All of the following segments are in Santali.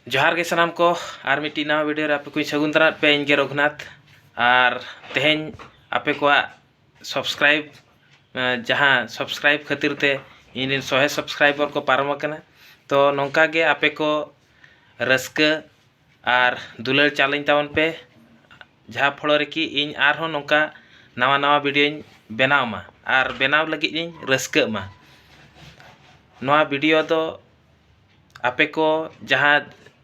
ᱡᱚᱦᱟᱨ ᱜᱮ ᱥᱟᱱᱟᱢ ᱠᱚ ᱟᱨ ᱢᱤᱫᱴᱤᱡ ᱱᱟᱣᱟ ᱵᱷᱤᱰᱤᱭᱳ ᱨᱮ ᱟᱯᱮ ᱠᱚᱧ ᱥᱟᱹᱜᱩᱱ ᱫᱟᱨᱟᱢ ᱯᱮ ᱤᱧ ᱜᱮ ᱨᱚᱜᱷᱩᱱᱟᱛᱷ ᱟᱨ ᱛᱮᱦᱮᱧ ᱟᱯᱮ ᱠᱚᱣᱟᱜ ᱥᱟᱵᱥᱠᱨᱟᱭᱤᱵ ᱡᱟᱦᱟᱸ ᱥᱟᱵᱥᱠᱨᱟᱭᱤᱵ ᱠᱷᱟᱹᱛᱤᱨ ᱛᱮ ᱤᱧ ᱨᱮᱱ ᱥᱚᱦᱮ ᱥᱟᱵᱥᱠᱨᱟᱭᱵᱚᱨ ᱠᱚ ᱯᱟᱨᱚᱢ ᱟᱠᱟᱱᱟ ᱛᱚ ᱱᱚᱝᱠᱟ ᱜᱮ ᱟᱯᱮ ᱠᱚ ᱨᱟᱹᱥᱠᱟᱹ ᱟᱨ ᱫᱩᱞᱟᱹᱲ ᱪᱟᱞᱟᱹᱧ ᱛᱟᱵᱚᱱ ᱯᱮ ᱡᱟᱦᱟᱸ ᱯᱷᱚᱲᱚ ᱨᱮᱠᱤ ᱤᱧ ᱟᱨᱦᱚᱸ ᱱᱚᱝᱠᱟ ᱱᱟᱣᱟ ᱱᱟᱣᱟ ᱵᱷᱤᱰᱤᱭᱳᱧ ᱵᱮᱱᱟᱣ ᱢᱟ ᱟᱨ ᱵᱮᱱᱟᱣ ᱞᱟᱹᱜᱤᱫ ᱤᱧ ᱨᱟᱹᱥᱠᱟᱹᱜ ᱢᱟ ᱱᱚᱣᱟ ᱵᱷᱤᱰᱤᱭᱳ ᱫᱚ ᱟᱯᱮ ᱠᱚ ᱡᱟᱦᱟᱸ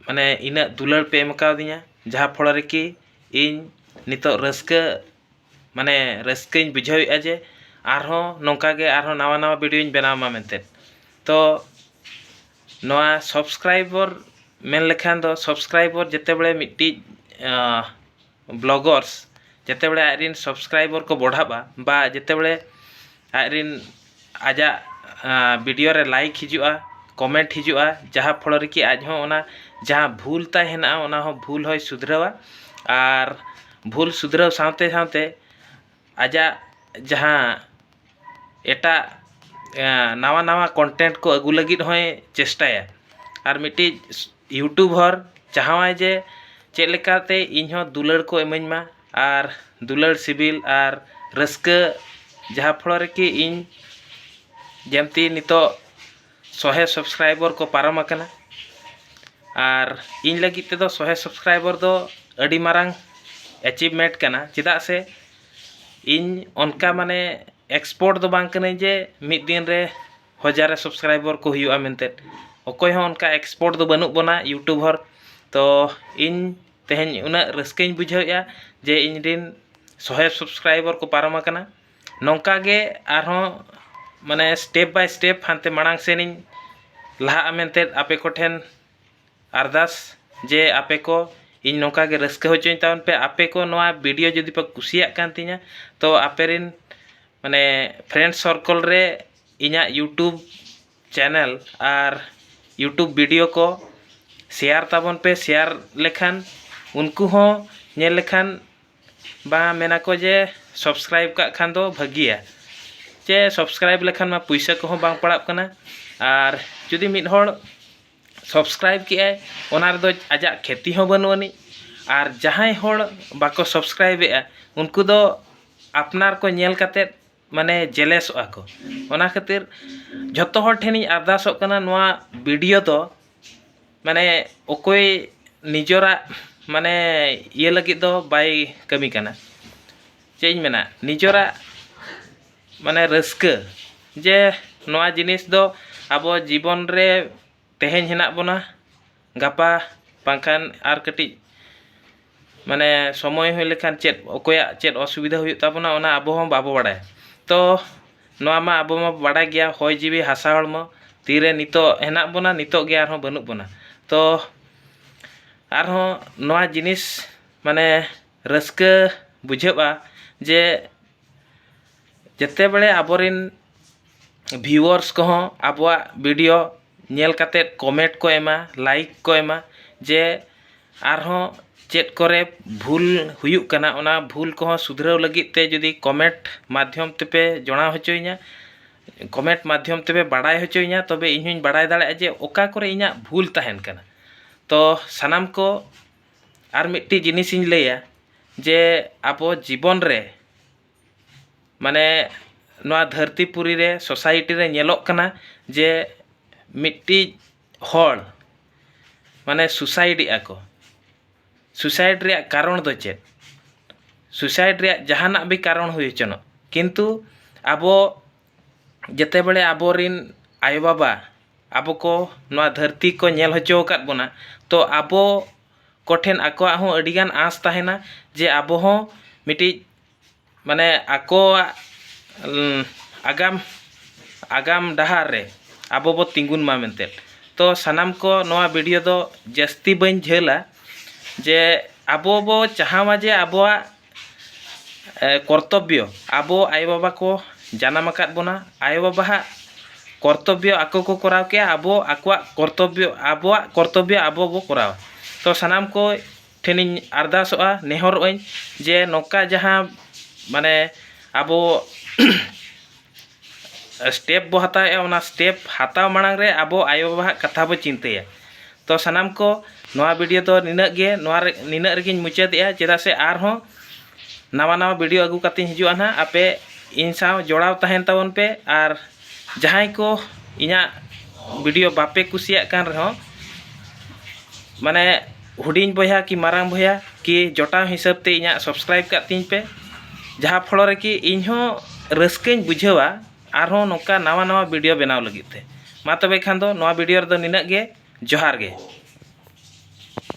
ᱢᱟᱱᱮ ᱤᱱᱟᱹᱜ ᱫᱩᱞᱟᱹᱲ ᱯᱮ ᱮᱢ ᱠᱟᱣᱫᱤᱧᱟ ᱡᱟᱦᱟᱸ ᱯᱷᱚᱞᱚ ᱨᱮᱠᱤ ᱤᱧ ᱱᱤᱛᱚᱜ ᱨᱟᱹᱥᱠᱟᱹ ᱢᱟᱱᱮ ᱨᱟᱹᱥᱠᱟᱹᱧ ᱵᱩᱡᱷᱟᱹᱣᱮᱫᱼᱟ ᱡᱮ ᱟᱨᱦᱚᱸ ᱱᱚᱝᱠᱟ ᱜᱮ ᱟᱨᱦᱚᱸ ᱱᱟᱣᱟ ᱱᱟᱣᱟ ᱵᱷᱤᱰᱭᱳᱧ ᱵᱮᱱᱟᱣ ᱢᱟ ᱢᱮᱱᱛᱮ ᱛᱚ ᱱᱚᱣᱟ ᱥᱟᱵᱥᱠᱨᱟᱭᱤᱵᱚᱨ ᱢᱮᱱ ᱞᱮᱠᱷᱟᱱ ᱫᱚ ᱥᱟᱵᱥᱠᱨᱟᱭᱤᱵᱚᱨ ᱡᱮᱛᱮ ᱵᱟᱲᱮ ᱢᱤᱫᱴᱤᱡ ᱵᱞᱚᱜᱚᱨᱥ ᱡᱮᱛᱮᱵᱮᱲᱮ ᱟᱡ ᱨᱤᱱ ᱥᱚᱵᱥᱠᱨᱟᱭᱵᱚᱨ ᱠᱚ ᱵᱚᱰᱷᱟᱵᱼᱟ ᱵᱟ ᱡᱮᱛᱮᱵᱮᱲᱮ ᱟᱡ ᱨᱤᱱ ᱟᱡᱟᱜ ᱵᱤᱰᱤᱭᱚ ᱨᱮ ᱞᱟᱭᱤᱠ ᱦᱤᱡᱩᱜᱼᱟ ᱠᱚᱢᱮᱱᱴ ᱦᱤᱡᱩᱜᱼᱟ ᱡᱟᱦᱟᱸ ᱯᱷᱚᱲᱚ ᱨᱮᱠᱤ ᱟᱡ ᱦᱚᱸ ᱚᱱᱟ ᱡᱟᱦᱟᱸ ᱵᱷᱩᱞ ᱛᱟᱭ ᱦᱮᱱᱟᱜᱼᱟ ᱚᱱᱟ ᱦᱚᱸ ᱵᱷᱩᱞ ᱦᱚᱸᱭ ᱥᱩᱫᱷᱨᱟᱹᱣᱟ ᱟᱨ ᱵᱷᱩᱞ ᱥᱩᱫᱷᱨᱟᱹᱣ ᱥᱟᱶᱛᱮ ᱥᱟᱶᱛᱮ ᱟᱡᱟᱜ ᱡᱟᱦᱟᱸ ᱮᱴᱟᱜ ᱱᱟᱣᱟ ᱱᱟᱣᱟ ᱠᱚᱱᱴᱮᱱᱴ ᱠᱚ ᱟᱹᱜᱩ ᱞᱟᱹᱜᱤᱫ ᱦᱚᱸᱭ ᱪᱮᱥᱴᱟᱭᱟ ᱟᱨ ᱢᱤᱫᱴᱤᱡ ᱤᱭᱩᱴᱩᱵᱷᱚᱨ ᱪᱟᱦᱟᱣᱟᱭ ᱡᱮ ᱪᱮᱫ ᱞᱮᱠᱟᱛᱮ ᱤᱧ ᱦᱚᱸ ᱫᱩᱞᱟᱹᱲ ᱠᱚ ᱤᱢᱟᱹᱧ ᱢᱟ ᱟᱨ ᱫᱩᱞᱟᱹᱲ ᱥᱤᱵᱤᱞ ᱟᱨ ᱨᱟᱹᱥᱠᱟᱹ ᱡᱟᱦᱟᱸ ᱯᱷᱚᱲᱚ ᱨᱮ ᱠᱤ ᱤᱧ ᱡᱮᱢᱛᱤ ᱱᱤᱛᱚᱜ ᱥᱚᱦᱮ ᱥᱚᱵᱥᱠᱨᱟᱭᱵᱚᱨ ᱠᱚ ᱯᱟᱨᱚᱢ ᱟᱠᱟᱱᱟ ᱟᱨ ᱤᱧ ᱞᱟᱹᱜᱤᱫ ᱛᱮᱫᱚ ᱥᱚᱦᱮ ᱥᱚᱵᱥᱠᱨᱟᱭᱵᱚᱨ ᱫᱚ ᱟᱹᱰᱤ ᱢᱟᱨᱟᱝ ᱮᱪᱤᱵᱷᱢᱮᱱᱴ ᱠᱟᱱᱟ ᱪᱮᱫᱟᱜ ᱥᱮ ᱤᱧ ᱚᱱᱠᱟ ᱢᱟᱱᱮ ᱮᱠᱥᱯᱚᱨᱴ ᱫᱚ ᱵᱟᱝ ᱠᱟᱹᱱᱟᱹᱧ ᱡᱮ ᱢᱤᱫ ᱫᱤᱱ ᱨᱮ ᱦᱟᱡᱟᱨ ᱥᱟᱵᱥᱠᱨᱟᱭᱵᱟᱨ ᱠᱚ ᱦᱩᱭᱩᱜᱼᱟ ᱢᱮᱱᱛᱮ ᱚᱠᱚᱭ ᱦᱚᱸ ᱚᱱᱠᱟ ᱮᱠᱥᱯᱟᱨᱴ ᱫᱚ ᱵᱟᱹᱱᱩᱜ ᱵᱚᱱᱟ ᱤᱭᱩᱴᱩᱵᱟᱨ ᱛᱳ ᱤᱧ ᱛᱮᱦᱮᱧ ᱩᱱᱟᱹᱜ ᱨᱟᱹᱥᱠᱟᱹᱧ ᱵᱩᱡᱷᱟᱹᱣᱮᱫᱼᱟ ᱡᱮ ᱤᱧ ᱨᱮᱱ ᱥᱚᱭ ᱥᱟᱵᱥᱠᱨᱟᱭᱵᱟᱨ ᱠᱚ ᱯᱟᱨᱚᱢ ᱟᱠᱟᱱᱟ ᱱᱚᱝᱠᱟ ᱜᱮ ᱟᱨᱦᱚᱸ ᱢᱟᱱᱮ ᱥᱴᱮᱯ ᱵᱟᱭ ᱥᱴᱮᱯ ᱦᱟᱱᱛᱮ ᱢᱟᱲᱟᱝ ᱥᱮᱱ ᱤᱧ ᱞᱟᱦᱟᱜᱼᱟ ᱢᱮᱱᱛᱮ ᱟᱯᱮ ᱠᱚᱴᱷᱮᱱ ᱟᱨᱫᱟᱥ ᱡᱮ ᱟᱯᱮ ᱠᱚ ᱤᱧ ᱱᱚᱝᱠᱟ ᱜᱮ ᱨᱟᱹᱥᱠᱟᱹ ᱦᱚᱪᱚᱧ ᱛᱟᱵᱚᱱ ᱯᱮ ᱟᱯᱮ ᱠᱚ ᱱᱚᱣᱟ ᱵᱷᱤᱰᱤᱭᱳ ᱡᱩᱫᱤ ᱯᱮ ᱠᱩᱥᱤᱭᱟᱜ ᱠᱟᱱ ᱛᱤᱧᱟᱹ ᱛᱚ ᱟᱯᱮ ᱨᱮᱱ ᱢᱟᱱᱮ ᱯᱷᱨᱮᱱᱰ ᱥᱚᱨᱠᱚᱞ ᱨᱮ ᱤᱧᱟᱹᱜ ᱤᱭᱩᱴᱩᱵᱽ ᱪᱮᱱᱮᱞ ᱟᱨ ᱤᱭᱩᱴᱩᱵᱽ ᱵᱷᱤᱰᱤᱭᱳ ᱠᱚ ᱥᱮᱭᱟᱨ ᱛᱟᱵᱚᱱ ᱯᱮ ᱥᱮᱭᱟᱨ ᱞᱮᱠᱷᱟᱱ ᱩᱱᱠᱩ ᱦᱚᱸ ᱧᱮᱞ ᱞᱮᱠᱷᱟᱱ ᱵᱟᱝ ᱢᱮᱱ ᱟᱠᱚ ᱡᱮ ᱥᱟᱵᱥᱠᱨᱟᱭᱤᱵᱽ ᱠᱟᱜ ᱠᱷᱟᱱ ᱫᱚ ᱵᱷᱟᱹᱜᱤᱭᱟ ᱪᱮ ᱥᱟᱵᱥᱠᱨᱟᱭᱤᱵᱽ ᱞᱮᱠᱷᱟᱱ ᱢᱟ ᱯᱩᱭᱥᱟᱹ ᱠᱚᱦᱚᱸ ᱵᱟᱝ ᱯᱟᱲᱟᱜ ᱠᱟᱱᱟ ᱟᱨ ᱡᱩᱫᱤ ᱢᱤᱫ ᱦᱚᱲ ᱥᱚᱵᱥᱠᱨᱟᱭᱤᱵᱽ ᱠᱮᱜᱼᱟᱭ ᱚᱱᱟ ᱨᱮᱫᱚ ᱟᱡᱟᱜ ᱠᱷᱮᱛᱤ ᱦᱚᱸ ᱵᱟᱹᱱᱩᱜ ᱟᱹᱱᱤᱡ ᱟᱨ ᱡᱟᱦᱟᱸᱭ ᱦᱚᱲ ᱵᱟᱠᱚ ᱥᱚᱵᱥᱠᱨᱟᱭᱤᱵᱽ ᱮᱜᱼᱟ ᱩᱱᱠᱩ ᱫᱚ ᱟᱯᱱᱟᱨ ᱠᱚ ᱧᱮᱞ ᱠᱟᱛᱮᱫ ᱢᱟᱱᱮ ᱡᱮᱞᱮᱥᱚᱜᱼᱟ ᱠᱚ ᱚᱱᱟ ᱠᱷᱟᱹᱛᱤᱨ ᱡᱷᱚᱛᱚ ᱦᱚᱲ ᱴᱷᱮᱱᱤᱧ ᱟᱨᱫᱟᱥᱚᱜ ᱠᱟᱱᱟ ᱱᱚᱣᱟ ᱵᱷᱤᱰᱤᱭᱳ ᱫᱚ ᱢᱟᱱᱮ ᱚᱠᱚᱭ ᱱᱤᱡᱮᱨᱟᱜ ᱢᱟᱱᱮ ᱤᱭᱟᱹ ᱞᱟᱹᱜᱤᱫ ᱫᱚ ᱵᱟᱭ ᱠᱟᱹᱢᱤ ᱠᱟᱱᱟ ᱪᱮᱫ ᱤᱧ ᱢᱮᱱᱟ ᱱᱤᱡᱮᱨᱟᱜ ᱢᱟᱱᱮ ᱨᱟᱹᱥᱠᱟᱹ ᱡᱮ ᱱᱚᱣᱟ ᱡᱤᱱᱤᱥ ᱫᱚ ᱟᱵᱚ ᱡᱤᱵᱚᱱ ᱨᱮ ᱛᱮᱦᱮᱧ ᱦᱮᱱᱟᱜ ᱵᱚᱱᱟ ᱜᱟᱯᱟ ᱵᱟᱝᱠᱷᱟᱱ ᱟᱨ ᱠᱟᱹᱴᱤᱡ ᱢᱟᱱᱮ ᱥᱚᱢᱚᱭ ᱦᱩᱭ ᱞᱮᱱᱠᱷᱟᱱ ᱪᱮᱫ ᱚᱠᱚᱭᱟᱜ ᱪᱮᱫ ᱚᱥᱩᱵᱤᱫᱷᱟ ᱦᱩᱭᱩᱜ ᱛᱟᱵᱚᱱᱟ ᱚᱱᱟ ᱟᱵᱚ ᱦᱚᱸ ᱵᱟᱵᱚ ᱵᱟᱲᱟᱭᱟ ᱛᱚ ᱱᱚᱣᱟ ᱢᱟ ᱟᱵᱚ ᱢᱟᱵᱚ ᱵᱟᱲᱟᱭ ᱜᱮᱭᱟ ᱦᱚᱭ ᱡᱤᱣᱤ ᱦᱟᱥᱟ ᱦᱚᱲᱢᱚ ᱛᱤᱨᱮ ᱱᱤᱛᱚᱜ ᱦᱮᱱᱟᱜ ᱵᱚᱱᱟ ᱱᱤᱛᱚᱜ ᱜᱮ ᱟᱨᱦᱚᱸ ᱵᱟᱹᱱᱩᱜ ᱵᱚᱱᱟ ᱛᱚ ᱟᱨᱦᱚᱸ ᱱᱚᱣᱟ ᱡᱤᱱᱤᱥ ᱢᱟᱱᱮ ᱨᱟᱹᱥᱠᱟᱹ ᱵᱩᱡᱷᱟᱹᱜᱼᱟ ᱡᱮ ᱡᱮᱛᱮᱵᱮᱲᱮ ᱟᱵᱚᱨᱮᱱ ᱵᱷᱤᱭᱩᱣᱟᱨᱥ ᱠᱚᱦᱚᱸ ᱟᱵᱚᱣᱟᱜ ᱵᱷᱤᱰᱤᱭᱳ ᱧᱮᱞ ᱠᱟᱛᱮᱫ ᱠᱚᱢᱮᱱᱴ ᱠᱚ ᱮᱢᱟ ᱞᱟᱭᱤᱠ ᱠᱚ ᱮᱢᱟ ᱡᱮ ᱟᱨᱦᱚᱸ ᱪᱮᱫ ᱠᱚᱨᱮ ᱵᱷᱩᱞ ᱦᱩᱭᱩᱜ ᱠᱟᱱᱟ ᱚᱱᱟ ᱵᱷᱩᱞ ᱠᱚᱦᱚᱸ ᱥᱩᱫᱷᱨᱟᱹᱣ ᱞᱟᱹᱜᱤᱫ ᱛᱮ ᱡᱩᱫᱤ ᱠᱚᱢᱮᱱᱴ ᱢᱟᱫᱽᱫᱷᱚᱢ ᱛᱮᱯᱮ ᱡᱚᱲᱟᱣ ᱦᱚᱪᱚᱭᱤᱧᱟᱹ ᱠᱚᱢᱮᱱᱴ ᱢᱟᱫᱽᱫᱷᱚᱢ ᱛᱮᱯᱮ ᱵᱟᱲᱟᱭ ᱦᱚᱪᱚᱭᱤᱧᱟᱹ ᱛᱚᱵᱮ ᱤᱧ ᱦᱚᱸᱧ ᱵᱟᱲᱟᱭ ᱫᱟᱲᱮᱭᱟᱜᱼᱟ ᱡᱮ ᱚᱠᱟ ᱠᱚᱨᱮ ᱤᱧᱟᱹᱜ ᱵᱷᱩᱞ ᱛᱟᱦᱮᱱ ᱠᱟᱱᱟ ᱛᱚ ᱥᱟᱱᱟᱢ ᱠᱚ ᱟᱨ ᱢᱤᱫᱴᱤᱡ ᱡᱤᱱᱤᱥ ᱤᱧ ᱞᱟᱹᱭᱟ ᱡᱮ ᱟᱵᱚ ᱡᱤᱵᱚᱱ ᱨᱮ ᱢᱟᱱᱮ ᱱᱚᱣᱟ ᱫᱷᱟᱹᱨᱛᱤ ᱯᱩᱨᱤ ᱨᱮ ᱥᱳᱥᱟᱭᱤᱴᱤ ᱨᱮ ᱧᱮᱞᱚᱜ ᱠᱟᱱᱟ ᱡᱮ ᱢᱤᱫᱴᱤᱡ ᱦᱚᱲ ᱢᱟᱱᱮ ᱥᱩᱭᱥᱟᱭᱤᱰ ᱮᱫᱼᱟ ᱠᱚ ᱥᱩᱭᱥᱟᱭᱤᱰ ᱨᱮᱭᱟᱜ ᱠᱟᱨᱚᱱ ᱫᱚ ᱪᱮᱫ ᱥᱩᱭᱥᱟᱭᱤᱰ ᱨᱮᱭᱟᱜ ᱡᱟᱦᱟᱱᱟᱜ ᱜᱮ ᱠᱟᱨᱚᱱ ᱦᱩᱭ ᱦᱚᱪᱚᱱᱚᱜ ᱠᱤᱱᱛᱩ ᱟᱵᱚ ᱡᱮᱛᱮᱵᱟᱲᱮ ᱟᱵᱚᱨᱮᱱ ᱟᱭᱳ ᱵᱟᱵᱟ ᱟᱵᱚ ᱠᱚ ᱱᱚᱣᱟ ᱫᱷᱟᱹᱨᱛᱤ ᱠᱚ ᱧᱮᱞ ᱦᱚᱪᱚ ᱟᱠᱟᱫ ᱵᱚᱱᱟ ᱛᱚ ᱟᱵᱚ ᱠᱚᱴᱷᱮᱱ ᱟᱠᱚᱣᱟᱜ ᱦᱚᱸ ᱟᱹᱰᱤ ᱜᱟᱱ ᱟᱸᱥ ᱛᱟᱦᱮᱱᱟ ᱡᱮ ᱟᱵᱚ ᱦᱚᱸ ᱢᱤᱫᱴᱤᱡ ᱢᱟᱱᱮ ᱟᱠᱚᱣᱟᱜ ᱟᱜᱟᱢ ᱟᱜᱟᱢ ᱰᱟᱦᱟᱨ ᱨᱮ ᱟᱵᱚ ᱵᱚᱱ ᱛᱤᱸᱜᱩᱱ ᱢᱟ ᱢᱮᱱᱛᱮ ᱛᱚ ᱥᱟᱱᱟᱢ ᱠᱚ ᱱᱚᱣᱟ ᱵᱷᱤᱰᱤᱭᱳ ᱫᱚ ᱡᱟᱹᱥᱛᱤ ᱵᱟᱹᱧ ᱡᱷᱟᱹᱞᱟ ᱡᱮ ᱟᱵᱚ ᱵᱚ ᱪᱟᱦᱟᱣᱟ ᱡᱮ ᱟᱵᱚᱣᱟᱜ ᱠᱚᱨᱛᱚᱵᱽᱵᱚ ᱟᱵᱚ ᱟᱭᱳ ᱵᱟᱵᱟ ᱠᱚ ᱡᱟᱱᱟᱢ ᱟᱠᱟᱫ ᱵᱚᱱᱟ ᱟᱭᱳ ᱵᱟᱵᱟᱣᱟᱜ ᱠᱚᱨᱛᱚᱵᱽᱵᱚ ᱟᱠᱚ ᱠᱚ ᱠᱚᱨᱟᱣ ᱠᱮᱜᱼᱟ ᱟᱵᱚ ᱟᱠᱚᱣᱟᱜ ᱠᱚᱨᱛᱚᱵᱽᱵᱚ ᱟᱵᱚᱣᱟᱜ ᱠᱚᱨᱛᱚᱵᱽᱵᱚ ᱟᱵᱚ ᱵᱚ ᱠᱚᱨᱟᱣᱟ ᱛᱚ ᱥᱟᱱᱟᱢ ᱠᱚ ᱴᱷᱮᱱᱤᱧ ᱟᱨᱫᱟᱥᱚᱜᱼᱟ ᱱᱮᱦᱚᱨᱚᱜᱼᱟᱹᱧ ᱡᱮ ᱱᱚᱝᱠᱟ ᱡᱟᱦᱟᱸ ᱢᱟᱱᱮ ᱟᱵᱚ ᱥᱴᱮᱯ ᱵᱚ ᱦᱟᱛᱟᱣᱮᱫᱼᱟ ᱚᱱᱟ ᱥᱴᱮᱯ ᱦᱟᱛᱟᱣ ᱢᱟᱲᱟᱝ ᱨᱮ ᱟᱵᱚ ᱟᱭᱳᱼᱵᱟᱵᱟᱣᱟᱜ ᱠᱟᱛᱷᱟ ᱵᱚ ᱪᱤᱱᱛᱟᱹᱭᱟ ᱛᱚ ᱥᱟᱱᱟᱢ ᱠᱚ ᱱᱚᱣᱟ ᱵᱷᱤᱰᱭᱳ ᱫᱚ ᱱᱤᱱᱟᱹᱜ ᱜᱮ ᱱᱚᱣᱟ ᱨᱮ ᱱᱤᱱᱟᱹᱜ ᱨᱮᱜᱮᱧ ᱢᱩᱪᱟᱹᱫᱮᱜᱼᱟ ᱪᱮᱫᱟᱜ ᱥᱮ ᱟᱨᱦᱚᱸ ᱱᱟᱣᱟ ᱱᱟᱣᱟ ᱵᱷᱤᱰᱭᱳ ᱟᱹᱜᱩ ᱠᱟᱛᱮᱧ ᱦᱤᱡᱩᱜᱼᱟ ᱦᱟᱸᱜ ᱟᱯᱮ ᱤᱧ ᱥᱟᱶ ᱡᱚᱲᱟᱣ ᱛᱟᱦᱮᱱ ᱛᱟᱵᱚᱱ ᱯᱮ ᱟᱨ ᱡᱟᱦᱟᱸᱭ ᱠᱚ ᱤᱧᱟᱹᱜ ᱵᱷᱤᱰᱭᱳ ᱵᱟᱯᱮ ᱠᱩᱥᱤᱭᱟᱜ ᱠᱟᱱ ᱨᱮᱦᱚᱸ ᱢᱟᱱᱮ ᱦᱩᱰᱤᱧ ᱵᱚᱭᱦᱟ ᱠᱤ ᱢᱟᱨᱟᱝ ᱵᱚᱭᱦᱟ ᱠᱤ ᱡᱚᱴᱟᱣ ᱦᱤᱥᱟᱹᱵ ᱛᱮ ᱤᱧᱟᱹᱜ ᱥᱟᱵᱥᱠᱨᱟᱭᱤᱵ ᱠᱟᱜ ᱛᱤᱧ ᱯᱮ ᱡᱟᱦᱟᱸ ᱯᱷᱚᱞᱚ ᱨᱮ ᱠᱤ ᱤᱧ ᱦᱚᱸ ᱨᱟᱹᱥᱠᱟᱹᱧ ᱵᱩᱡᱷᱟᱹᱣᱟ ᱟᱨ ᱦᱚᱸ ᱱᱚᱝᱠᱟ ᱱᱟᱣᱟ ᱱᱟᱣᱟ ᱵᱷᱤᱰᱭᱳ ᱵᱮᱱᱟᱣ ᱞᱟᱹᱜᱤᱫ ᱛᱮ ᱢᱟ ᱛᱚᱵᱮ ᱠᱷᱟᱱ ᱫᱚ ᱱᱚᱣᱟ ᱵᱷᱤᱰᱭᱳ ᱨᱮᱫᱚ ᱱᱤᱱᱟᱹᱜ ᱜᱮ ᱡᱚᱦᱟᱨ ᱜᱮ